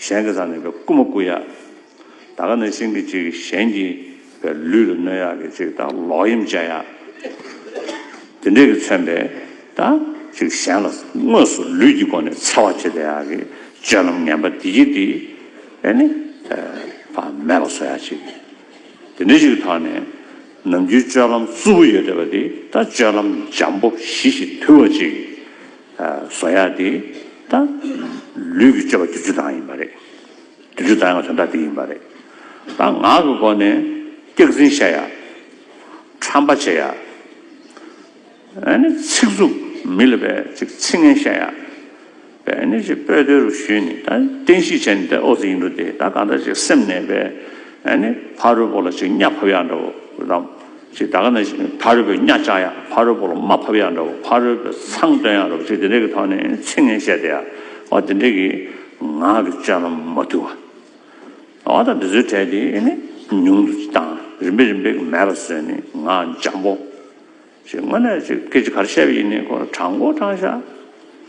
གཞན་གྱི་ས་ནས་པའི་རྐུ་མ་རྐུ་ཡག། ད་ག་ནས་ཤིང་གི་ཅིག་གཞན་གྱི་པའི་ལུས་ལ་གནོད་ཡག་གི་ཅིག་ད་ལོག་གཡེམ་བྱ་ཡག། དེ་འདྲས་ཀྱི་མཚོན་པས་ད་ཅིག་གཞན་ལ་དངོས་སུ་ལུས་ཀྱི་སྒོ་ནས་འཚེ་བ་བྱེད་ད་ཡག་གི་སྤྱོད་ལམ་ངན་པ་འདི་སྐྱེ་འདི་ཨེ་ནི་ད་བ་མེད་པ་བཟོ་ཡག་ཅིག་དེ་འདྲས་ཅིག་ཐོག་ནས་ནམ་རྒྱུན་སྤྱོད་ལམ་རྩུབ་པོ་ཡོད་ད་བ་འདི་ད་སྤྱོད་ལམ་འཇམ་པོ་ཞི་ཞིག་དུལ་བ་ཅིག། བཟོ་ཡ་དེ་ད་ལུས་ཀྱི་སྤྱོད་པ་དུས་ཚོད་དང་ཡིན་པ་རེད། དུས་ཚོད་དང་ཡང་དོན་དག་དེ་ཡིན་པ་རེད། ད་ངག་གི་སྒོ་ནས་སྐྱག་རྫུན་བཤད་ཡ། ཁྲམ་པ་བྱེད་ཡ། ཨ་ནི་ཚིག་རྩུབ་མི་ལ་བས་ཅིག་ཚིག་ངན་བཤད་ཡ། བས་ཨ་ནི་ཅིག་སྤོས་དོལ་རུ་ཞུས་ནས་ད་བསྟན་བཤིག་བྱས་ནས་ད་ཨོ་ཙི་ཡིན་འགྲོ་དེ་ད་གང་འདྲ་ཅིག་སེམས་ནས་བས་ཨ་ནི་ཕ་རོལ་པོ་ལ་ཅིག་གཉའ་ཕབ་ཡ་འདྲ་བོ་རམ། ཅེས་ད་ག་ནས་བྱུང་ཕ་རོལ་པོའི་གཉའ་བཅག་ཡག་ཕ་རོལ་པོ་ལ་མ་ཕབ་ཡག་འདྲ་བོ་ཕ་རོལ་པོའི་མཚང་སྟོན་ཡག་འདྲ་བོ་ཅེས་དེ་འདྲས་ཀྱི་ཐོག་ནས་ཚིག་ངན་བཤད་དེ་ཡག་བ་དེ་འདྲས་ཀྱི་ངག་གི་སྤྱོད་ལམ་མ་བསྡུ་བ། བ་དང་འདི་ཚོའི་གྲས་དེ་ནི་ཉུང་དུ་བཏང་རིམ་པས་རིམ་པས་ཀྱི་མེད་པར་བཟོས་ནས་ངག་འཇམ་པོ། ཞེས་དངོས་གནས་ཀྱི་སྐད་ཅིག་ག་རེ་བཤད་པ་ཡིན་ནི་ཁོ་རང་དྲང་མགོ་དྲང་ཤ།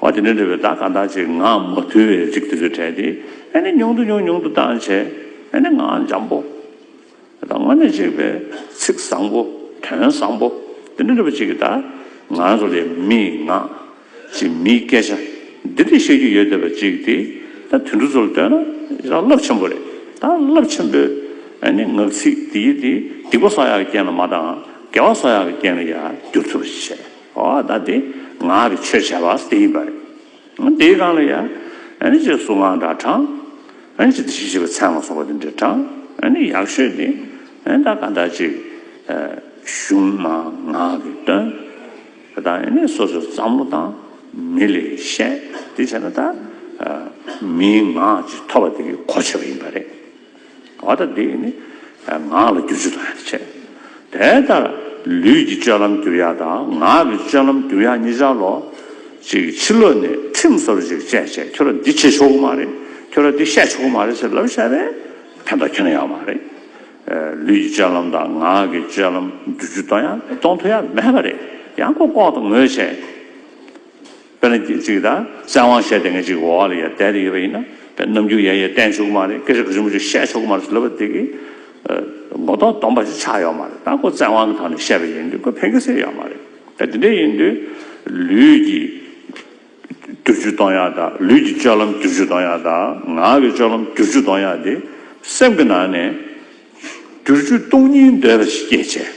འོ་དེ་འདྲ་འདྲ་བའི་བརྡ་ག་འདྲ་ཅིག་ངག་མ་ཐུལ་བས་རིག་དེ་ཚོས་དྲན་ཏེ་ཨེ་ནི་ཉུང་དུ་ཉུང་ཉུང་དུ་བཏང་བྱས་ཨེ་ནི་ངག་འཇམ་པོ་དང་དངོས་གནས་གཅིག་པའི་ཚིག་བཟང་པོ་དོན་བཟང་པོ་འདི་འདྲ་འདྲ་བ་ཅིག་གི་བརྡ་ང་ཚོ་ལས་མི་ངག་ཅིག་མིའི་སྐད་ཆ་འདི་འདྲ་བཤད་རྒྱུ་ཡོད་བསྡད་པ་ཅིག་དེ་ད་དུད་འགྲོ་ཚོ་ལ་ལྟོས་ན་ཡང་རླབས་ཆེན་པོ་རེད་ད་རླབས་ཆེན་པོའི་ཨེ་ནི་ངག་ཚིག་འདི་ཡིས་དེ་སྡིག་པ་སོག་ཡག་གི་རྐྱེན་ལ་མ་དང་དགེ་བ་སོག་ཡག་གི་རྐྱེན་ལ་ཡང་བསྒྱུར་ཐུབ་པ་ཞིག་བྱས། ཨོ་ད་དེ་ངག་གི་ཆོས་བྱ་བ་དེ་ཡིན་པ་རེད། དེའི་སྒང་ལ་ཡང། ཨེ་ཅེ་སུ་ངག་འདྲ་དྲངས། ཨེ་ཅེ་དེ་བཞིན་བྱེད་པའི་ཚད་ངག་སོགས་པ་དེ་འདྲ་དྲངས། ཡག་ཤོས་དེ། ཨེ་ད་ག་འདྲ་ཅིག། གཞུང་མ་ངག་གིས་སྟོན། ད་ཨེ་ནས་སོ་སོའི་བསམ་བློ་དང། མི་ལས་བཤད། དེ་བྱས་ན་ད། མིའི་ངག་ཅིག་ཐོབ་པ་དེ་གི་གོ་ཆོད་པ་ཡིན་པ་རེད། བ་ལྟར་འདི་ནི་ངག་ལ་བསྒྱུར་ཆུ་དང་ཡང་ཆད། དེ་ལྟར་ལུས་ཀྱི་སྤྱོད་ལམ་བསྒྱུར་ཡ་དང་ངག་གི་སྤྱོད་ལམ་བསྒྱུར་ཡ་གཉིས་ཆར་ལོ་གཅིག་ཕྱི་ལོ་ནས་ཁྲིམས་གསར་བ་ཞིག་བཅས་བྱས་ཁྱོད་ར་འདི་བྱེད་ཆོག་གི་མ་རེད་ཁྱོད་ར་འདི་བཤད་ཆོག་གི་མ་རེད་ཟེར་ལབ་བཤད་པས་ཕན་ཐོགས་ཁྱོན་ཡངས་མ་རེད། ལུས་ཀྱི་སྤྱོད་ལམ་དང་ངག་གི་སྤྱོད་ལམ་བསྒྱུར་ཆུ་གཏོང་ཡ་གཏོང་ཐུབ་ཡ་མེད་པ་རེད་ཡང་ཀོ་ཀོག་དང་ངོས་བྱས། དཔེར་ན་རྒྱུད་གཅིག་དང་གསན་དབང་བཤད་དེ་ངེད་གཅིག་གི་འོག་ལ་ཡ་བསྡད་དེ་ཡོད་པ་ཡིན་ན་དཔེར་རྣམ་འགྱུར་ཡ་ཡས་བསྟན་ཆོག་གི་མ་རེད་སྐད་ཆ་ག་ཚོད་མ་ཚོད་བཤད་ཆོག་གི་མ་རེད་ལབ་པ་དེ་གི་ངོ་གདོང་སྡོམ་པ་ཞིག་ཆགས་ཡོད་མ་རེད་ད་ཁོ་བཙན་དབང་གི་ཐོག་ནས་བཤད་པ་ཡིན་དུས་ཁོས་ཕན་ཁེ་སེ་ཡོད་མ་རེད་ད་དེ་འདྲ་ཡིན་དུས་ལུས་ཀྱི་བསྡུར་ཆུ་གཏོང་ཡག་དང་ལུས་ཀྱི་སྤྱོད་ལམ་བསྡུར་ཆུ་གཏོང་ཡག་དང་ངག་གི་སྤྱོད་ལམ་བསྡུར་ཆུ་གཏོང་ཡག་དེ་སེམས་ཀྱི་ནང་ནས་བསྡུར་ཆུ་གཏོང་སྙིང་འདོད་པ་ཞིག་སྐྱེད་བྱེད་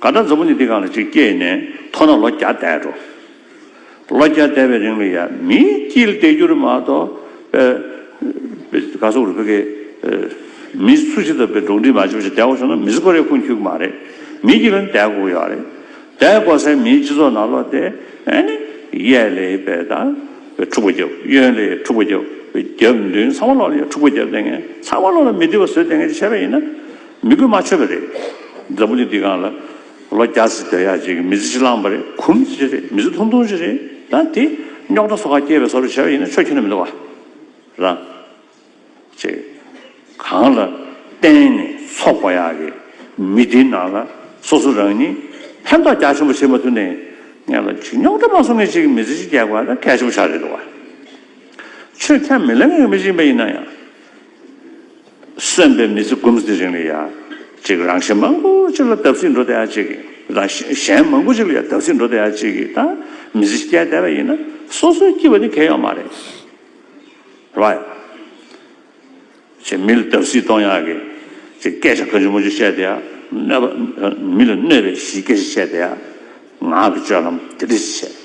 ག་འདྲ་འཛམ་བུ་ནི་འདི་གང་ལ་ཅིག་སྐྱེས་ནས་མཐོ་ན་ལོ་བརྒྱ་འདས་འགྲོ། ལོ་བརྒྱ་འདས་པའི་རིང་ལ་ཡང་མིའི་དཀྱིལ་འདས་འགྱུར་མ་གཏོགས། ག་སོག་རུ་བོད་སྐད། མི་སུ་ཞིག་དང་བོད་འགྲོགས་འདྲིས་མ་བྱེད་པ་ཞིག་འདས་འགོ་བྱུང་ན་མི་སུ་ཁོ་རེ་ཁུངས་འཁྱུད་གི་མ་རེད། མིའི་དཀྱིལ་ལ་ནི་འདས་འགོ་གི་ཡོད་རེད། འདས་འགོ་སའི་མིའི་སྤྱི་ཚོགས་ནང་ལོ་དེ་ཨེ་ནི། གཡས་ལས་བལ་དང། འཁྲུག་པ་རྒྱབ། གཡོན་ལས་འཁྲུག་པ་རྒྱབ། རྒྱབ་མདུན་ཚང་མ་ལོག་ལ་ཡང་འཁྲུག་པ་རྒྱབ་བསྡད་ངེས། ཚང་མ་ལོག་ལ་མི་བདེ་བ་བཟོས་བསྡད་ངེས་ཅེས་བཤད་པ་ཡིན་ན། མི་དགོས་མ་ཆོད་པ་རེད། འཛམ་བུ་གླིང་འདི་གང་ལ། ལོ་བརྒྱ་ཟིག་སྡོད་ཡག་ཅིག་མི་ཚེ་ཅིག་བླངས་པ་རེད་གུང་མི་ཚེ་ཅིག་རེད་མི་ཚེ་ཐུང་ཐུང་ཅིག་རེད་ད་དེ། རྙོག་དྲ་སོ་ཁ་སྐྱེལ་བའི་ས་རུ་བྱས་པ་ཡིན་ན་ཆོས་ཁྱོན་ན་མི་འདུག་བ། རང། ཅེས། གང་ལ། བརྟེན་ནས་འཚོགས་པ་ཡག་གི། མི་འདི་ནང་ལ། སོ་སོ་རང་ཉིད། ཕན་ཐོགས་རྒྱ་ཆེན་པོ་བྱེད་མ་ཐུབ་ནས། ངན་ལ་ཅིག་རྙོག་དྲ་མ་བཟོ་ངེས་ཅིག་མི་ཚེ་ཅིག་རྒྱག་པ་ནི་གལ་ཆེན་པོ་ཆགས་རེད་འདུག་བ། ཆོས་ཁྱམས་མི་ལེན་ངེས་མི་ཅིག་པ་ཡིན་ན་ཡང། གསོན་པའི་མི་ཚེ་འགུམ་ཟླའི་རིང་ལ་ཡང་ཅིག་རང་བཞིན་མང་པོ་ཅིག་ལ་བརྡབ་གསིག་འགྲོ་བསྡད་ཡ་ཅིག་རང་བཞིན་གཞན་མང་པོ་ཅིག་ལ་ཡང་བརྡབ་གསིག་འགྲོ་བསྡད་ཡ་ཅིག་གིས་ད་མི་ཚེ་བསྐྱལ་བསྡད་པ་ཡིན་ན་སོ་སོའི་སྐྱིད་པ་ནི་གལ་ཡོད་མ་རེད། Right། ཅིག་མི་ལ་བརྡབ་གསིག་གཏོང་ཡག་གི་ཅིག་སྐད་ཆ་ག་ཅུང་མང་ཅུང་བཤད་བསྡད་ཡ། གནོད་པ། མི་ལ་གནོད་པའི་གཞི་སྐད་ཆ་བཤད་བསྡད་ཡ། ངག་གི་སྤྱོད་ལམ་དེ་འདྲ་ཞིག་བྱས།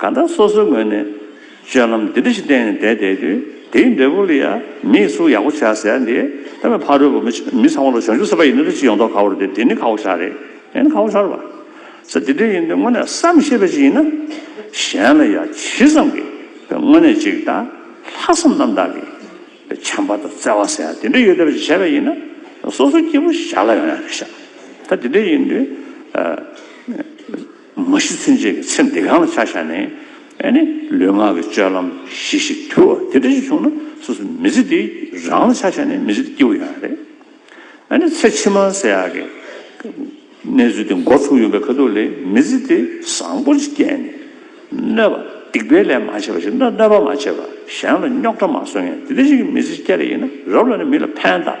གང་ལྟར་སོ་སོའི་ངོས་ནས་སྤྱོད་ལམ་འདི་འདྲ་ཞིག་བསྟན་ནས་བསྡད་བསྡད་དུས་དེའི་འབྲས་བུ་ལ་ཡང་མིས་གཟུགས་ཡག་པོ་བྱས་ཟེར་ཡ་འདི་ད་མི་ཕ་རོལ་པོ་མི་ཚང་མ་ལ་ཞོག་འཇུག་སྲིད་པ་ཡིན་ན་འདྲ་ཅི་ཡོང་དོགས་ཁ་བོར་དེ་འདི་ནི་ཁ་བོ་ཞག་རེད་དེ་ནི་ཁ་བོ་ཞོར་བ་ཟེར་དེ་འདྲ་ཡིན་དུས་དངོས་གནས་བསམ་ཤེས་པ་ཞིག་ཡིན་ན་གཞན་ལ་ཡང་ཇི་ཙམ་གྱིས་དེ་དངོས་གནས་ཅིག་དང་ལྷག་བསམ་རྣམ་དག་གིས་བྱམས་པ་དང་བརྩེ་བ་ཟེར་ཡ་དེ་འདྲ་ཡོད་བསྡད་པ་ཞིག་བྱས་པ་ཡིན་ན་སོ་སོའི་སྐྱེ་བོ་ཞར་ལ་ཡོང་ཡ་རེད་ཤག་ད་དེ་འདྲ་ཡིན་དུས། མ་གཞི་ཚུན་ཆད་ཀྱི་ཚེ་འདི་གང་ལ་ཆ་བཞག་ནས་ནི་ལུས་ངག་གི་སྤྱོད་ལམ་གཞི་ཞིག་དུལ་བ་དེ་འདྲ་ཞིག་བྱུང་ན་སོ་སོ་མི་ཚེ་འདི་རང་ལ་ཆ་བཞག་ནས་མི་ཚེ་འདི་སྐྱེལ་བ་ཡང་རེད། ནི་ཚེ་ཕྱི་མ་ཟེར་ཡག་གི་གནས་ཚུལ་དེ་འགོ་ཚུགས་ཡོང་པའི་ཁ་ཐུག་ལས་མི་ཚེ་དེ་བཟང་པོ་ཞིག་སྐྱེལ་ནས་གནོད་པ་སྡིག་པའི་ལས་མ་བྱས་པ་ཞིག་ན་གནོད་པ་མ་བྱས་པ་གཞན་ལ་རྙོག་དྲ་མ་བཟོ་མཁན་དེ་འདྲ་ཞིག་གི་མི་ཚེ་སྐྱེལ་རེ་ཡིན་ན་རབ་ལ་ནི་མི་ལ་ཕན་གདགས།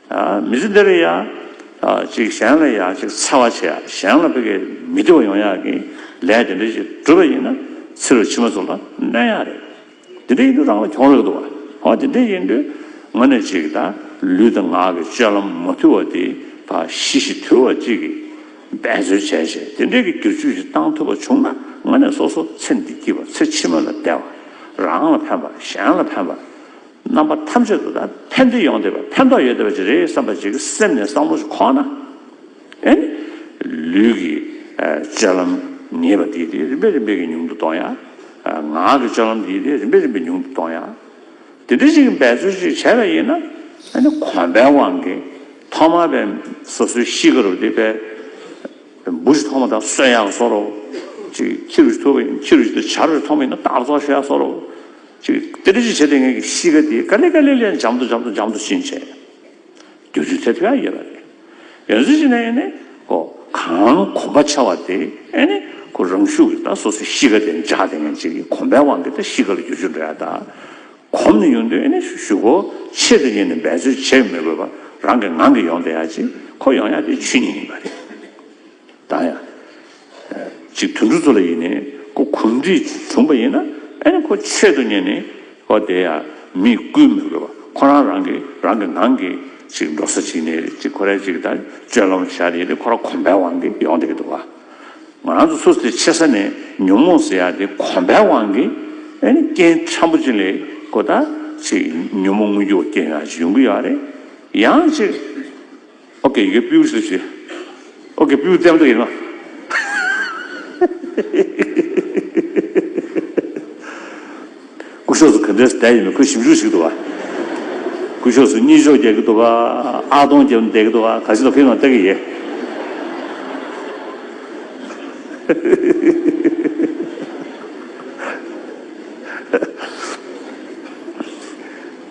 མི་ཚེ་འདིར་ཡང་ཅིག་གཞན་ལ་ཡང་ཅིག་འཚེ་བ་བྱེད་གཞན་ལ་ཕི་གེ་མི་བདེ་བ་ཡོང་ཡག་གི་ལས་དེ་འདྲ་ཅིག་བསྒྲུབ་པ་ཡིན་ན་ཚེ་རུ་ཕྱི་མ་ཚོ་ལ་གནོད་ཡག་རེད། དེ་འདྲ་ཡིན་དུས་རང་ལ་གྱོང་རག་འདུག་བ། དེ་འདྲ་ཡིན་དུས་ངོ་ནས་ཅིག་ད་ལུས་དང་ངག་གི་སྤྱོད་ལམ་མ་དུལ་བ་དེ་ད་ཤི་ཤི་དུལ་བ་ཅིག་གིས་འབད་རྩོལ་བྱས་བྱས་དེ་འདྲ་གི་བསྒྱུར་བཅོས་ཅིག་བཏང་ཐུབ་པ་བྱུང་ན་ངོ་ནས་སོ་སོ་ཚེ་འདི་སྐྱིད་པ་ཚེ་ཕྱི་མ་ལ་བདེ་བ་རང་ལ་ཕན་པ་གཞན་ལ་ཕན་པ། རྣམ་པ་ཐམས་ཅད་དུ་ད་ཕན་བདེ་ཡོང་བསྡད་པ་ཕན་ཐོགས་ཡོད་བསྡད་པ་ཅིག་རེད་བསམ་པ་ཅིག་སེམས་ནས་བསམ་བློ་ཅིག་ཁོག་ན་ཨེ། ལུས་ཀྱི་སྤྱོད་ལམ་ངེས་པ་དེ་དེ་རིམ་པས་རིམ་པས་ཀྱིས་ཉུང་དུ་གཏོང་ཡ། ངག་གི་སྤྱོད་ལམ་དེ་དེ་རིམ་པས་རིམ་པས་ཉུང་དུ་གཏོང་ཡ། དེ་འདྲ་ཞིག་གི་འབད་རྩོལ་ཅིག་བྱས་པ་ཡིན་ན་ཨེ་གོམས་པའི་དབང་གིས་ཐོག་མར་པའི་སོ་སོའི་གཤིས་ཀ་རུ་དེ་པའི་འབུ་ཅིག་ཐོག་མ་ད་གསོན་ཡག་གསོ་རོགས། ཅིག་ཁྱི་རུ་ཅིག་ཐུག་པ་ཡིན་ན་ཁྱི་རུ་ཅིག་ད་བྱ་རོགས་ཐོག་མ་ཡིན་ན་རྟགས་རྫོགས་ཤོས་ཡག་གསོ་རོགས། ཅིག། དེ་ཅི་བྱེད་དེ་ངེད་ཀྱི་གཤིས་ཀ་འདི་ཀ་ལི་ཀ་ལི་ལན་འཇམ་དུ་འཇམ་དུ་འཇམ་དུ་ཕྱིན་ཆད། དུས་ཚོད་ཚད་ཕེ་ཨ་ཡོད་པ་རེད། ཡོན་ཚུལ་ཅི་ནས་ཨེ་ནི། ཀོ། གང་གོམ་པ་ཆེ་བ་དེ་ཨེ་ནི། ཀོ་རང་ཤུགས་ཀྱིས་ད་སོ་སོའི་གཤིས་ཀ་དེ་འཇགས་དེ་ངེད་ཅིག་གི་གོམ་པའི་དབང་གིས་ད་གཤིས་ཀ་ལ་རྒྱུ་ཆུ་འདྲ་ཡ་ད། གོམ་ནས་ཡོང་དུས་ཨེ་ནི་ཞུ་ཀོ། ཆེད་དུ་ཉིད་ནས་འབད་རྩོལ་བྱེད་མི་དགོས་པར་རང་གིས་ངང་གིས་ཡོང་དེ་ཡ་ཅིག་ཁོ་ཡོང་ཡ་དེ་ཆུ་ཉིད་ཡིན་པ་རེད། དང་ཡང། ཅིག་དུད་འགྲོ་ཚོ་ལ་ཡིན་ནི་ཁོ་གུས་འདུད་བྱུང་བ་ཡིན་ན་ཨེ་ནི་ཁོ་ཆེད་དུ་གཉེར་ནི་ཨོ་དེ་ཡང་མི་བསྐུལ་མི་དགོས་པ་ཁོ་རང་རང་གི་རང་གི་ངང་གིས་ཅིག་འགྲོ་ས་ཅིག་ནི་ཅིག་ཁོ་རས་ཅིག་དང་སྤྱོད་ལམ་བཞག་ནི་ནི་ཁོ་རང་གོམས་པའི་དབང་གིས་ཡོང་དེ་གི་འདུག་བ། ང་རང་ཚོ་སུ་དེ་ཆེ་ས་ནས་ཉོན་མོངས་ཟེར་ཡག་དེ་གོམས་པའི་དབང་གིས་ཨེ་ནི་རྐྱེན་ཕྲན་བུ་ཅིག་ལས་ཁོ་ད་ཅིག་ཉོན་མོངས་དངོས་རྒྱུ་བ་རྐྱེན་ཡག་ཅིག་ཡོང་གི་ཡག་རེད་ཡང་ཅིག། ཨོ་གེ་གེ་པིའུ་ཞེས་བྱའི། ཨོ་གེ་པིའུ་ཙམ་དུ་ཡིན་ནོ། སྐུ་ཕྱོགས་སུ་ག་འདྲའི་ཟླ་ཡིན་མིན་ཁོས་ཞིབ་འཇུག་བྱེད་ཀྱི་འདུག་བ། སྐུ་ཕྱོགས་སུ་གཉིད་ཤོག་རྒྱག་གི་འདུག་བ། ཨག་སྟོང་རྒྱབ་ནས་བསྡད་ཀྱི་འདུག་བ་ག་ཞིག་ལ་ཕེབས་ནང་བལྟ་གི་ཡེ།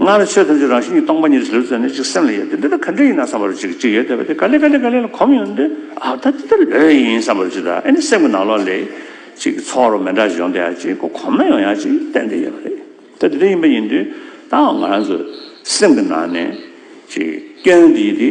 སྔར་ནས་ཆོས་ཐམས་ཅད་རང་བཞིན་གྱིས་སྟོང་པ་ཉིད་དུ་ཟེར་བའི་ཚུལ་ནི་གཅིག་སེམས་ལ་ཡོད་དེ་འདི་ལྟར་ག་འདྲ་ཡིན་ནམ་བསམ་པར་གཅིག་གཅིག་ཡོད་དེ་བ་དེ་ག་ལས་ག་ལས་ག་ལས་ལ་གོམས་ཡོང་དུས་ཨ་ད་འདི་ལྟར་ལོས་ཡིན་བསམ་པར་གཅིག་དང་ཨེ་ནི་སེམས་ཀྱི་ནང་ལོགས་ལས་གཅིག་ཚོགས་རོ་མེ་འདྲ་ཞིག་ཡོང་དེ་ཡང་གཅིག་གོ་གོམས་ན་ཡང་ཡང་གཅིག་བསྟན་དེ་ཡོད་པ་རེད་ད་འདི་ལྟར་ཡིན་པ་ཡིན་དུས་ད་འང་ང་རང་ཚོའི་སེམས་ཀྱི་ནང་ནས་གཅིག་སྐྱོན་འདི་ཡིན་དེ།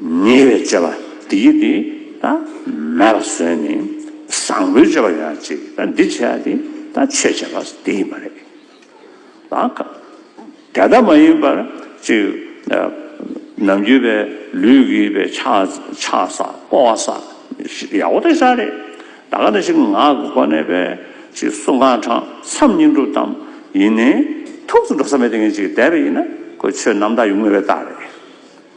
ཉེ་བའི་སྤྱོད་པ་དེ་ཡིས་དེ་མེད་པར་བཟོས་ནས་བཟང་པོའི་སྤྱོད་པ་ཡོད་ན་ཅིག་འདི་བྱས་ན་དེ་ཆོས་བྱས་པ་དེ་ཡིན་པ་རེད། དེ་ལྟ་མ་ཡིན་པར་ཅིག་ནམ་རྒྱུན་པའི་ལུས་ཀྱི་པའི་ཆགས་བསགས་སྤོ་བ་སོགས་ཡག་པོ་དེ་ཤ་རེད། ད་ག་ནས་ཅིག་ངག་གི་སྒོ་ནས་པའི་ཅིག་གསུང་གང་དྲང་མཚམས་སྙིང་སྒྲུབ་ཙམ་ཡིན་ནས་ཐུགས་སུ་འགྲོ་ས་མེད་དེ་ངས་ཅིག་བསྡད་པ་ཡིན་ན་ཁོས་ཆོས་རྣམ་དག་ཡུལ་དངོས་པའི་རྟགས་རེད།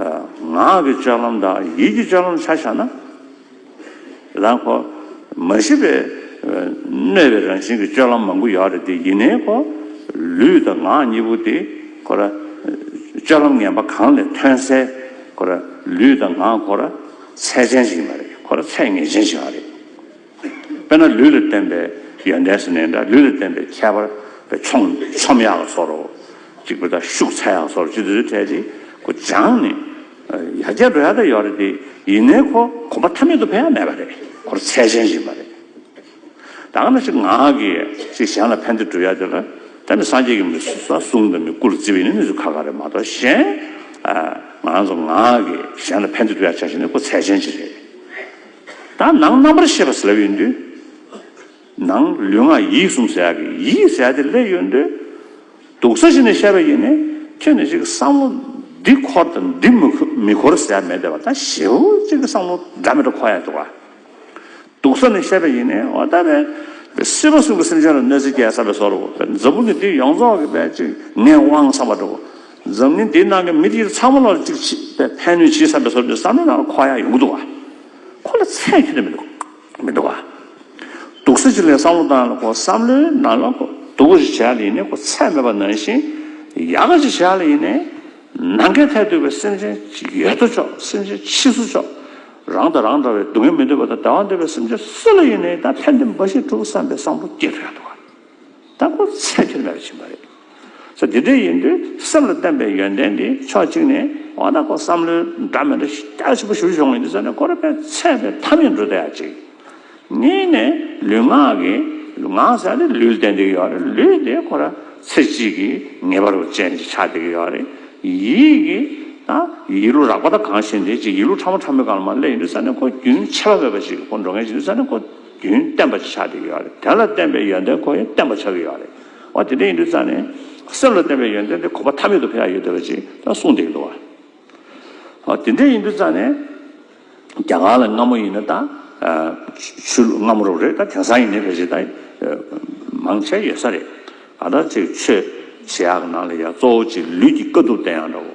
ངག་གི་ལྕགས་ལམ་དང་ཡིད་ཀྱི་ལྕགས་ལམ་ཆ་བཞག་ན། རང་གོ། མ་ཤི་བའི། གནོད་པའི་རང་བཞིན་གྱི་སྤྱོད་ལམ་མང་པོ་ཡོད་རེད་དེ་ཡིན་ནའི་གོ། ལུས་དང་ངག་གཉིས་པོ་དེ་གོ། སྤྱོད་ལམ་ངན་པ་གང་ལས་ཐོན་སའི་གོ། ལུས་དང་ངག་གོ། ཚད་ཅན་ཞིག་མ་རེད་གོ། ཚད་ངེས་ཅན་ཞིག་རེད། དཔེར་ན་ལུས་ལ་བརྟེན་པའི་ཡོན་ཏན་སེར་སྣའི་འདྲ་ལུས་ལ་བརྟེན་པའི་ཁྱད་པར་བའི་ཆོམ་ཆོམ་ཡག་ལ་སོར་རོ། གཅིག་པུ་དང་ཤུགས་ཚད་ཡག་སོར་རོ་སྤྱི་བརྟོལ་ཚུལ་ཕྲད་དེ་ཀུ་བྱང་ནི། ཡར་རྒྱས་འགྲོ་ཡག་ཏུ་ཡོད་རེད་དེ་ཡིན་ནའི་ཁོ་གོམ་པ་ཐ་མལ་དུ་འཕེན་ཡག་མེད་པ་རེད་ཁོར་ཚད་ཅན་བཞིན་པ་རེད། དང་ན་ཞིག་ངག་གིས་ཞིག་གཞན་ལ་ཕན་བདེ་བསྒྲུབ་ཡག་དེ་ལ་ད་ནི་སངས་རྒྱས་ཀྱི་མི་གསུང་ས་གསུང་དང་མི་སྐུ་ལ་བརྩི་བའི་ནི་གནས་ཚུལ་ཁ་ཁ་རེད་མ་གཏོགས་གཞན། ང་ཚོ་ངག་གིས་གཞན་ལ་ཕན་བདེ་བསྒྲུབ་ཡག་བྱ་བཞིན་ནི་ཁོ་ཚད་ཅན་ཅིག་རེད། དང། ནང་རྣམ་པར་ཤེས་པ་སེལ་ཡོད་འདོད། ནང་ལུས་ངག་ཡིད་གསུམ་ཟད་ཀྱི་ཡིད་ཟད་དེ་སླེ་ཡོད་འདོད། དུག་ས་གཞི་ནས་ཤ་བའི་ཡེ་ནས་ཁྱོད་ནི་གཅིག་བསམ་བློ་འདི་འཁོར་དང་འདི་མི་འཁོར་ཟད་མེད་བདེ་བ་དང་ཞི་བ་གཅིག་བསམ་བློ་འདྲ་མི་འདྲ་འཁོར་ཡང་འདུག། དུག་ས་ནས་ཤ་བའི་ཡེ་ནས་འོ་ད་པས། དེ་སྲིད་བ་སྲུང་གི་སེམས་ཅན་ལ་གནོད་འཚེ་བསྐྱལ་ས་བས་སོར་བུ་བས་འཛམ་བུ་གི་འདི་ཡོངས་རྫོགས་ཀྱི་བས་གཅིག་ངས་དབང་བསམ་པ་འགྲུབ། འཛམ་གླིང་འདིའི་ནང་གི་མི་དེ་ཚང་མ་ལ་གཅིག་མཆིས་པའི་ཕན་ནུས་ཇི་ཟབ་པའི་སོར་འདི་བསམ་ན་ནང་ཁོག་ཡག་ཡོང་གི་འདུག་བ། ཁོ་ལ་ཚད་ཁྱོན་མི་འདུག་མི་འདུག་བ། དུག་སེལ་ཅིག་ལས་བསམ་བློ་དང་ལ་ཁོ་བསམ་བློའི་ནང་ལ་ཁོ་དུག་གོ་ཞིག་བྱས་ཡག་ལ་ཡིན་ནའི་ཁོ་ཚད་མེད་པ་ནང་བཞིན་ཡག་ག་ཅིག་བྱས་ཡག་ལ་ཡིན་ནའི། ནང་མཁའི་མཐས་གཏུགས་པའི་སེམས་ཅན་ཡོད་དོ་ཅོག་སེམས་ཅན་ཕྱིས་སུ་ཅོག་རང་དང་རང་འདྲ་བའི་སྡུག་བསྔལ་མི་འདོད་པ་དང་བདེ་བ་འདོད་པའི་སེམས་ཅན་སུ་ལ་ཡིན་ནའི་ད་ཕན་བདེ་འབའ་ཞིག་འགྲུབ་བསམ་པའི་བསམ་བློ་སྐྱེ་ཐུབ་ཡག་འདུག་བ། ལྟ་བུ་ཚད་མཐོའི་ལས་རེ་བྱིན་པ་རེད། ཚེ་འདི་འདྲའི་ཡིན་དུས་སེམས་ལ་བརྟན་པའི་ཡོན་ཏན་འདི་ཕྱོགས་གཅིག་ནས་འོ་ན་ཁོ་བསམ་བློའི་འདྲ་མིན་འདྲ་སྐྱར་ཆེན་པོ་ཞུ་ཞོག་ངེས་འདི་ཟེར་ནས་ཁོ་རེ་ཕན་ཚད་པའི་མཐའ་མི་འགྲོ་ཟླ་ཡ་གཅིག། གཉིས་ནས་ལུས་ངག་གི། ངག་ཟེར་ནས་ལུས་བསྟན་འདི་གི་ཡོག་རེད་ལུས་དེ་ཁོ་ར་ཚེ་གཅིག་གི་ངེས་པ་རུ་ཅན་གྱི་ཆ་འདི་གི་ཡོག་རེད། ཡིད་གི། ད་ཡིད་ལུས་རགས་པ་ད་གང་ཞིག་འདི་ཅིག་ཡིད་ལུས་ཕྲ་མོ་ཕྲ་མོའི་གང་ལ་མ་སླེ་ཡིན་དུས་ཟེར་ནས་ཁོ་རྒྱུན་ཆད་པ་མེད་པ་ཞིག་གི་ཁོ་འགྲོ་ངེས་ཞིག་འདི་ཟེར་ནས་ཁོ། རྒྱུན་བསྟན་པ་ཆགས་ཏེ་ཡོད་རེད་དོན་ལ་བརྟེན་པའི་ཡོན་ཏན་ཁོ་ཡང་བསྟན་པ་ཆགས་ཀྱི་ཡོད་རེད་ཨོ་དེ་འདྲ་ཡིན་དུས་ཙང་ནས་སེམས་ལ་བརྟེན་པའི་ཡོན་ཏན་དེ་ཁོ་པ་ཐ་མལ་དུ་ཕེབས་ཡ་ཡོད་དེ་བ་ཅིག་ད་གསུངས་བསྡད་ཀྱི་འདུག་བ་ཨོ་དེ་འདྲ་ཡིན་དུས་ཙང་ནས་རྒྱ་གར་ལ་སྔ་མོ་ཡིན་ན་ད་ཆུ་ལུག་སྔ་མོ་རུ་རེད་ད་དེང་སང་ཡིན་ནས་བ་ཅིག་ད་མང་ཆེ་ཡོད་ས་རེད་ད་ལྟ་ཅིག་ཆོས་བྱེད་ཡག་ནང་ལ་ཡ་གཙོ་བོ་ཅིག་ལུས་ཀྱི་དཀའ་ཐུབ་བསྟན་ཡག་འདྲ་བོ།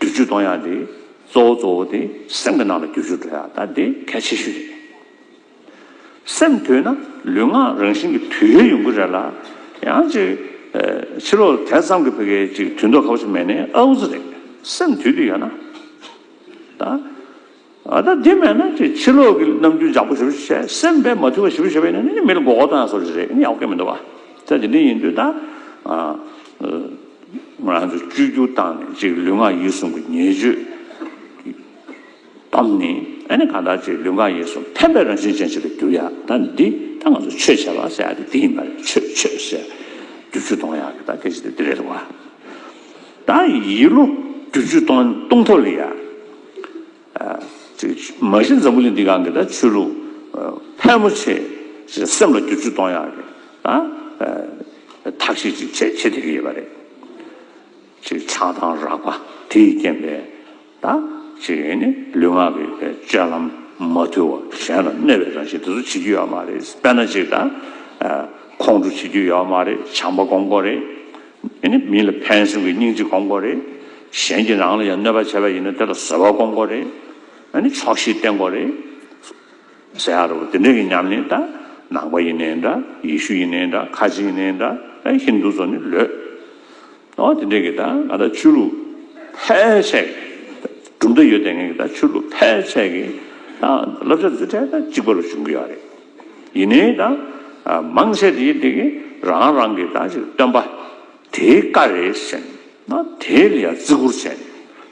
བསྡུ་རྒྱུ་གཏོང་ཡག་དེ་གཙོ་བོ་གཙོ་བོ་དེ་སེམས་ཀྱི་ནང་ལ་བསྒྱུར་ཞོར་འགྲོ་ཡག་ད་དེ་གལ་ཆེ་ཤོས་རེད། སེམས་དུལ་ན་ལུས་ངག་རང་བཞིན་གྱི་དུལ་ཡ་ཡོང་གི་རེད་ལ། ཡང་ཅིག། ཕྱི་ལོགས་དེ་ཙམ་གྱི་བོད་སྐད་ཅིག་དུལ་མདོག་ཁ་བོ་ཆེ་མེད་ནས་ཨ་འུ་ཚུ་རེད་སེམས་དུལ་དུལ་ཡོད་ན། ད། ཨ་ད་དེ་མེད་ན་ཁྱོད་ཕྱི་ལོག་གི་ནམ་རྒྱུན་ཇག་པོ་ཞིབ་བཤེར་བྱས་སེམས་པས་མ་ཐུལ་བ་ཞིབ་བཤེར་བྱས་པས་ནི་མི་ལ་མགོ་སྐོར་བཏང་ཡང་སོ་རེ་རེད་ཡག་པོ་མི་འདུག་བ། དེ་འདི་ཡིན་དུས་ད་ང་རང་ཚོ་བཅོས་བསྒྱུར་བཏང་ནས་ཅིག་ལུས་ངག་ཡིད་གསུམ་གྱི་ཉེས་སྤྱོད་ཀྱི་གཏམ་ནི་ཨ་ནི་གང་ལྟར་ཅིག་ལུས་ངག་ཡིད་གསུམ་ཕན་པའི་རང་བཞིན་ཅན་ཞིག་ལ་འགྱུར་ཡག་ད་ནི་འདི་ད་ང་ཚོ་ཆོས་བྱས་པ་ཟེར་ཡག་དེ་འདི་ཡིན་པ་རེད་ཆོས་ཆོས་ཟེར་རྒྱུ་བཅུ་གཏོང་ཡག་གི་ད་སྐད་ཆ་དེ་འདི་རེད་འདུག་བ། ད་ཡིད་བློ་རྒྱུ་བཅུ་གཏོང་ཐབས་ལ་ཡག། མ་གཞི་འཛམ་བུ་གླིང་འདི་གང་གི་ད་ཆོས་ལུགས་ཕལ་མོ་ཆེ་ཞིག་སེམས་ལ་བསྒྱུར་བཅོས་གཏོང་ཡག་གི་ད། ཐག་གཤིས་ཅིག་བྱེད་བྱེད་བསྡད་ཀྱི་ཡོད་པ་རེད། ཆགས་སྡང་རགས་པ་དེ་ཡི་རྐྱེན་པས་ད། ལུས་ངག་གི་སྤྱོད་ལམ་མ་དུལ་བ་གཞན་ལ་གནོད་པའི་རང་བཞིན་དེ་ཚོ་བྱེད་རྒྱུ་ཡོད་མ་རེད། དཔེར་ན་ཅིག་ད། ཁོང་ཁྲོ་བྱེད་རྒྱུ་ཡོད་མ་རེད་བྱམས་པ་སྒོམ་དགོས་རེད། དེ་ནི་མི་ལ་ཕན་སེམས་ཀྱི་སྙིང་རྗེ་སྐོང་འགོ་རེད། གཞན་གྱི་རང་ལ་ཡང་གནོད་པ་བྱས་པ་ཡིན་ན་དེ་ལ་བཟོད་པ་སྐོང་འགོ་རེད། ནི་ཆོག་ཤེས་བསྟེན་འགོ་རེད། ཟེར་ཡ་རོ། དེ་འདྲ་ཡིན་སྙམ་ནས་ད། ནང་པ་ཡིན་ནའི་འདྲ། ཡེ་ཤུ་ཡིན་ནའི་འདྲ། ཁ་ཆེ་ཡིན་ནའི་འདྲ། ཨེ་ཧིན་དུ་ཚོ་ནི་ལོས། ཨོ་དེ་འདྲས་ཀྱི་ད་ང་ད་ཆོས་ལུགས་ཕལ་ཆེར། གྲུབ་མཐའ་ཡོད་དེ་ངས་ཀྱི་ད་ཆོས་ལུགས་ཕལ་ཆེར་གྱི། ད་བསླབ་བྱ་འཛིན་གྲྭའི་ད་གཅིག་པ་རུ་བྱུང་གི་ཡོད་རེད། ཡིན་ནའི་ད། མང་ཆེ་དེ་དེ་གི་རང་རང་གི་ད་ཅིག་སྟོན་པ། དེའི་བཀའ་རེད་ཟེར་ན་དེ་ལ་ཡང་བརྩི་བཀུར་བྱས།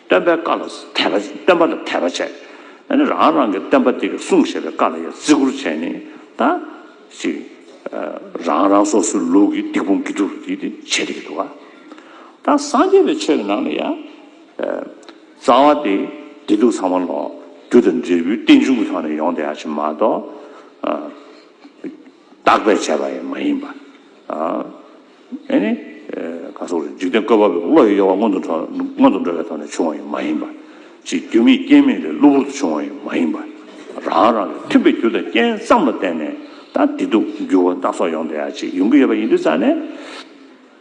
སྟོན་པའི་བཀའ་ལ་དད་པ་སྟོན་པ་ལ་དད་པ་བྱས། ཨ་ནི་རང་རང་གི་སྟོན་པ་དེ་གི་གསུང་བཤད་པའི་བཀའ་ལ་ཡང་བརྩི་བཀུར་བྱས་ནས་ད་ཅིག། རང་རང་སོ་སོའི་ལུགས་ཀྱི་སྡིག་སྤོང་དགེ་སྒྲུབ་ཀྱི་དེ་བྱས་དེ་གི་འདུག་ག། ད་སངས་རྒྱས་པའི་ཆོས་ཀྱི་ནང་ལ་ཡང། རྩ་བ་དེ་བདེ་སྡུག་ཚང་མ་ལོག། རྒྱུ་དང་འབྲས་བུའི་རྟེན་འབྱུང་གི་ཐོག་ནས་ཡོང་བསྡད་ཡག་ཕྱིན་མ་གཏོགས། བརྟག་པས་བྱས་པ་ཡང་མ་ཡིན་པ། ཨེ་ནི། ག་སོགས་རེད་འཇིག་རྟེན་བཀོད་པ་པོས་བློ་ཡི་གཡོ་བ་སྔོན་དུ་འགྲོ་བའི་ཐོག་ནས་བྱུང་བ་ཡང་མ་ཡིན་པ། ཅེས་རྒྱུ་མེད་རྐྱེན་མེད་ལས་གློ་བུར་དུ་བྱུང་བ་ཡང་མ་ཡིན་པ། རང་རང་གི་མཐུན་པའི་རྒྱུ་དང་རྐྱེན་ཙམ་ལ་བརྟེན་ནས་ད་བདེ་སྡུག་འགྱུར་བ་སྣ་ཚོགས་ཡོང་བསྡད་ཡག་ཅིག་ཡོང་གི་ཡོད་པ་ཡིན་དུས་ཙང་ནས།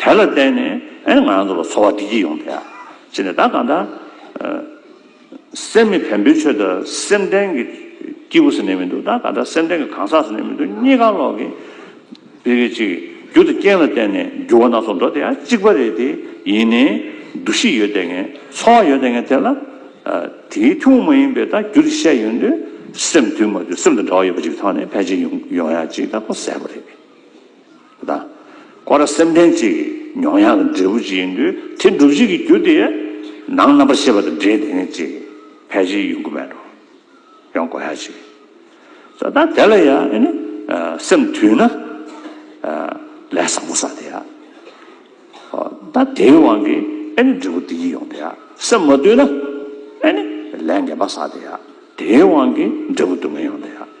དེ་ལ་བརྟེན་ནས་ང་རང་ཚོ་ལ་འཚོ་བ་བདེ་སྐྱིད་ཡོང་སྟེ། ཅི་ནས་ད་གང་ལྟར་སེམས་མི་ཕན་པོའི་ཆོས་དང་སེམས་ལྡན་གྱི་སྐྱེས་བུ་ཟེར་ནས་མི་འདུག་ད་གང་ལྟར་སེམས་ལྡན་གྱི་གང་ཟག་ཟེར་ནས་མི་འདུག་གཉིས་ཀ་ལོག་གི། དེ་གི་གཅིག་རྒྱུ་དང་རྐྱེན་ལ་བརྟེན་ནས་འགྱུར་བ་སྣ་ཚོགས་འགྲོ་དེ་ཡང་གཅིག་པ་རེད་དེ། ཡིན་ནའི་འདུ་ཤེས་ཡོད་དེ་ངན་འཚོ་བ་ཡོད་དེ་ངན་དེ་ལ། དེའི་ཐུན་མོང་མ་ཡིན་པའི་ད་རྒྱུ་དེ་བཤད་ཡོད་དུས་སེམས་དུས་མ་དུས་སེམས་དང་འདྲ་བ་ཡོད་པ་ཅིག་གི་ཐོག་ནས་ཕལ་ཆེར་ཡོང་ཡོང་ཡ་ཅིག་ད་ཁོ་གསལ་པོ་རེད། དང། ཁོ་རང་སེམས་ལྡན་ཅིག་གི་མྱོང་ཡངས་ཀྱི་འབྲས་བུ་ཅིག་ཡིན་དུས་དེ་འགྲུབ་བྱེད་ཀྱི་རྒྱུ་དེ་ནང་རྣམ་པར་ཤེས་པ་དང་འབྲེལ་དེ་ནི་ཅིག་ཕལ་ཆེར་ཡོང་གི་མེད་དོ། ཡོང་དགོས་ཡ་ཅིག་ཟེར་ད་དེ་ལ་ཡ་ཨེ་ནི་སེམས་དུས་ན་ལས་བཟང་པོ་བསགས་དེ་ཡ་ཨོ་ད་དེའི་དབང་གིས་ཨེ་ནི་འབྲས་བུ་དེ་ཉིད་ཡོང་དེ་ཡ་སེམས་མ་དུས་ན་ཨེ་ནི་ལས་ངན་པ་བསགས་དེ་ཡ་དེའི་དབང་གིས་འབྲས་བུ་སྡུག་བསྔལ་ཡོང་དེ་ཡ།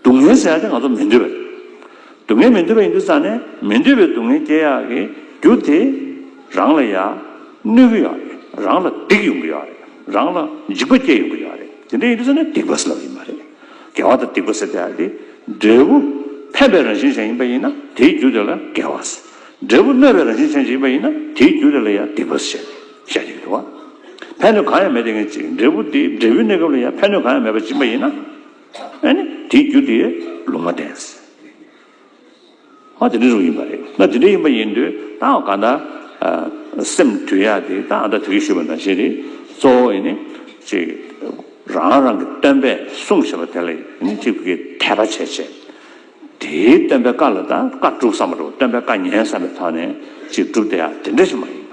སྡུག་བསྔལ་ཟེར་ཡག་དེ་ང་ཚོ་མི་འདོད་པ་རེད། སྡུག་བསྔལ་མི་འདོད་པ་ཡིན་དུས་ཙང་ནས་མི་འདོད་པའི་སྡུག་བསྔལ་སྐྱེ་ཡག་གི་རྒྱུ་དེ་རང་ལ་ཡག་གནོད་གི་ཡག་རེད། རང་ལ་སྡིག་ཡོང་གི་ཡག་རེད། རང་ལ་འཇིགས་པ་སྐྱེ་ཡོང་གི་ཡག་རེད། དེ་འདྲ་ཡིན་དུས་ཙང་ནས་སྡིག་པ་ཟེར་ལབ་ཡི་མ་རེད། དགེ་བ་དང་སྡིག་པ་ཟེར་ཏེ་ཡག་དེ་འབྲས་བུ་ཕན་པའི་རང་བཞིན་ཅན་ཡིན་པ་ཡིན་ན་དེའི་རྒྱུ་དེ་ལ་དགེ་བ་ཟེར། འབྲས་བུ་གནོད་པའི་རང་བཞིན་ཅན་ཞིག་ཡིན་པ་ཡིན་ན་དེའི་རྒྱུ་དེ་ལ་ཡང་སྡིག་པ་ཟེར། བཤད་ཀྱི་འདུག་ཕན་ནུས་གང་ཡང་མེད་དེ་ངེས་ཅིག་འབྲས་བུ་དེ་འབྲས་བུའི་གནས་སྐབས་ལ་ཡང་ཕན་ནུས་གང་ཡང་མེད་པར་སྦྱིན་པ་ཡིན་ན། ཨཱ་ནི། དེའི་རྒྱུ་དེ་ལུང་མ་བསྟན། ཨཱ་དེ་འདྲའི་རིགས་ཡིན་པ་རེད། ན་དེ་འདྲའི་ཡིན་པ་ཡིན་དུས་ད་འོ་ག་ད། སེམས་དུལ་ཡག་དེ་ད་ཨ་འདྲ་དེ་གི་ཞུས་པ་འདྲ་བྱེད་དེ། གཙོ་བོ་ཨཱ་ནི། ཅིག། རང་རང་གི་སྟོན་པས་གསུངས་ཞེས་པ་དེ་ལ་ཨཱ་ནི་ཅིག་གི་དད་པ་བྱས་བྱས། དེའི་སྟོན་པའི་བཀའ་ལ་ད་བཀའ་བསྒྲུབ་བསམ་པ་འགྲོ་བ་སྟོན་པའི་བཀའ་ཉན་བསམ་པའི་ཐོག་ནས་ཅིག་བསྒྲུབ་དེ་ཨ་དེ་འདྲ་ཞིག་མ་ཡིན་པ།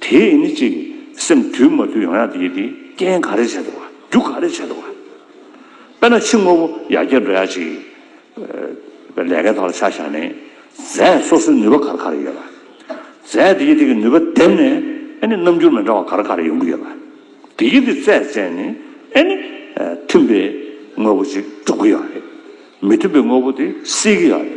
དེས་ནི་གཅིག། སེམས་དུལ་མ་དུལ་ཡང་ཡང་དེ་ཡིས་དེ། རྐྱེན་ག་རེ་བྱས་འདུག་བ། རྒྱུ་ག་རེ་བྱས་འདུག་བ། དཔེར་ན་ཕྱི་དངོས་པོ་ཡར་རྒྱས་འགྲོ་ཡ་གཅིག། པའི་ལས་ཀའི་ཐོག་ལ་ཆ་བཞག་ནས། རྫས་སོ་སོའི་ནུས་པ་ག་རེ་ག་རེ་ཡོད་བ། རྫས་དེ་ཡིས་དེ་གི་ནུས་པ་འདེམས་ནས། ཨེ་ནི་རྣམ་འགྱུར་མི་འདྲ་བ་ག་རེ་ག་རེ་ཡོང་གི་ཡོད་བ། དེ་ཡིས་དེ་རྩད་བཅད་ནས། ཨེ་ནི། མཐུན་པའི་དངོས་པོ་ཅིག་འགྲུབ་ཀྱི་ཡོད་རེད། མི་མཐུན་པའི་དངོས་པོ་དེ་སེལ་གྱི་ཡོད་རེད།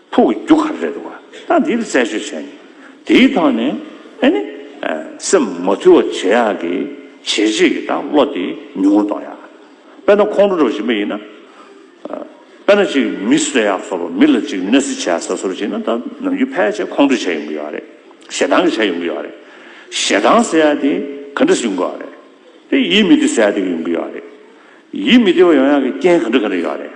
ཕུག་གི་རྒྱུ་ག་རེ་རེད་བ་ད་འདིར་བཙལ་བཤེར་བྱས་ནས་དེའི་ཐོག་ནས་ཨེ་ནི་སེམས་མ་ཐུལ་བ་བྱེད་ཡག་གི་བྱས་རྗེས་ཀྱི་དང་བློ་དེ་ཉུང་ངུ་གཏོང་ཡག་དཔེར་ན་ཁོང་ཁྲོ་འདྲ་བ་ཞིག་མ་ཡིན་ན་དཔེར་ན་ཅིག་མི་གསོད་ཡག་སོ་རུ་མི་ལ་ཅིག་གནོད་སེ་བྱེད་ཡག་ས་སོ་རུ་བྱེད་ན་ད་ནམ་རྒྱུན་ཕལ་ཆེར་ཁོང་ཁྲོ་བྱས་ཡོང་གི་ཡོད་རེད་ཞེ་སྡང་གི་བྱས་ཡོང་གི་ཡོད་རེད་ཞེ་སྡང་ཟེར་ཡག་དེ་ག་འདྲ་ཞིག་ཡོང་གི་ཡོད་རེད་དེ་ཡིད་མི་བདེ་ཟེར་ཡག་དེ་ཡོང་གི་ཡོད་རེད་ཡིད་མི་བདེ་བ་ཡོང་ཡག་གི་རྐྱེན་ག་འདྲ་ག་འདྲ་ཡོད་རེད།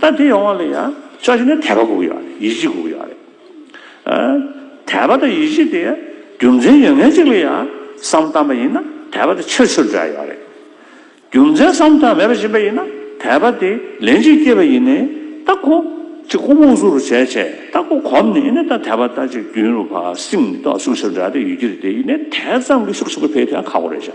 ད་དེ་ཡོང་བ་ལ་ཡང་ཕྱོགས་གཞན་ནས་དད་པ་དགོས་ཀྱི་ཡོད་རེད་ཡིད་ཆེས་དགོས་ཀྱི་ཡོད་རེད། དད་པ་དང་ཡིད་ཆེས་དེ་རྒྱུ་མཚན་ཡོད་མཁན་གཅིག་ལ་ཡང་བསམ་བཏང་པ་ཡིན་ན་དད་པ་དེ་ཕྱིར་ཕྱིར་འབྲལ་ཡོད་རེད། རྒྱུ་མཚན་བསམ་བཏང་མེད་པ་ཞིག་པ་ཡིན་ན་དད་པ་དེ་ལན་གཅིག་སྐྱེས་པ་ཡིན་ནས་ད་ཁོ་གཅིག་ཁོ་མོ་སུ་རུ་བྱས་བྱས་ད་ཁོ་གོམས་ནས་ཡིན་ནས་ད་དད་པ་ད་ཅིག་རྒྱུན་རུ་བ་སིམ་ཏོག་ཤུགས་ཆེར་འབྲལ་དེ་ཡོད་ཀྱི་རེད་དེ་ཡིན་ནས་དད་ཙམ་གྱི་ཤུགས་ཆེན་པོ་འཕེལ་དེ་ཡང་ཁག་པོ་རེད་བྱ།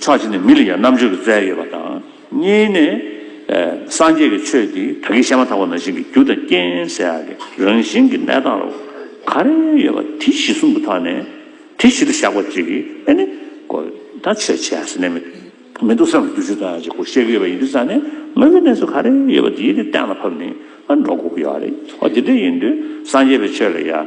ཕྱོགས་གཅིག་ནས་མི་ལ་ཡང་རྣམ་དཔྱོད་ཀྱི་རྩལ་ཡོད་པ་དང། གཉིས་ནས། སངས་རྒྱས་ཀྱི་ཆོས་འདི་ད་གིན་བཤད་མ་ཐག་པ་ན་བཞིན་གྱི་རྒྱུ་དང་རྐྱེན་ཟེར་ཡག་གི་རང་བཞིན་གྱི་གནས་སྟངས་ལ་ག་རེ་ཡོད་པ་དེ་གཞི་གསུམ་དུ་ཐག་ནས་དེ་གཞི་དུ་བཞག་པ་གཅིག་གིས་ཨེ་ནི། གོ་ད་ཆོས་བྱས་ཟེར་ནས་མི་འདུག་སེམས་ལ་འགྱུ་བྱུས་ཙམ་ཡང་བྱེད་དགོས་བཤད་གི་ཡོད་པ་ཡིན་དུས་ཙང་ནས་དངོས་པོའི་གནས་ཚུལ་ག་རེ་ཡོད་པ་དེ་གཏན་ལ་ཕབ་ནས་འགྲོ་དགོས་ཀྱི་ཡོད་རེད། འོ་དེ་འདྲ་ཡིན་དུས་སངས་རྒྱས་པའི་ཆོས་ལ་ཡང།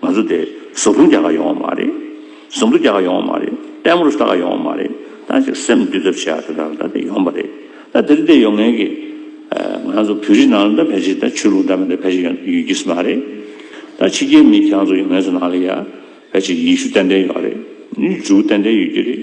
ང་ཚོ་དེ་ཟོག་རུམ་རྒྱག་ག་ཡོང་བ་མ་རེད། ཟོམ་བྲོ་རྒྱག་ག་ཡོང་བ་མ་རེད། ལྟད་མོར་ལྟ་ག་ཡོང་བ་མ་རེད། ད་ཅིག་སེམས་བསྡུས་ཐབས་བྱས་ད་ལྟ་ལྟ་དེ་ཡོང་བ་རེད། ད་དེ་རིགས་དེ་ཡོང་ངེས་ཀྱི། ང་ཚོ་བོད་རིགས་ནང་ལ་ད་ཕལ་ཆེར་ད་ཆོས་ལུགས་འདྲ་མིན་ད་ཕལ་ཆེར་ཡོད་ཡོད་ཀྱིས་མ་རེད། ད་ཕྱི་རྒྱལ་མི་ཁྱེད་ཚོ་ཡོང་ངེས་ཚོ་ནང་ལ་ཡ། ཕལ་ཆེར་ཡེ་ཤུ་ཏན་ཏན་ཡོད་རེད། འཇུག་ཏན་ཏན་ཡོད་ཀྱི་རེད།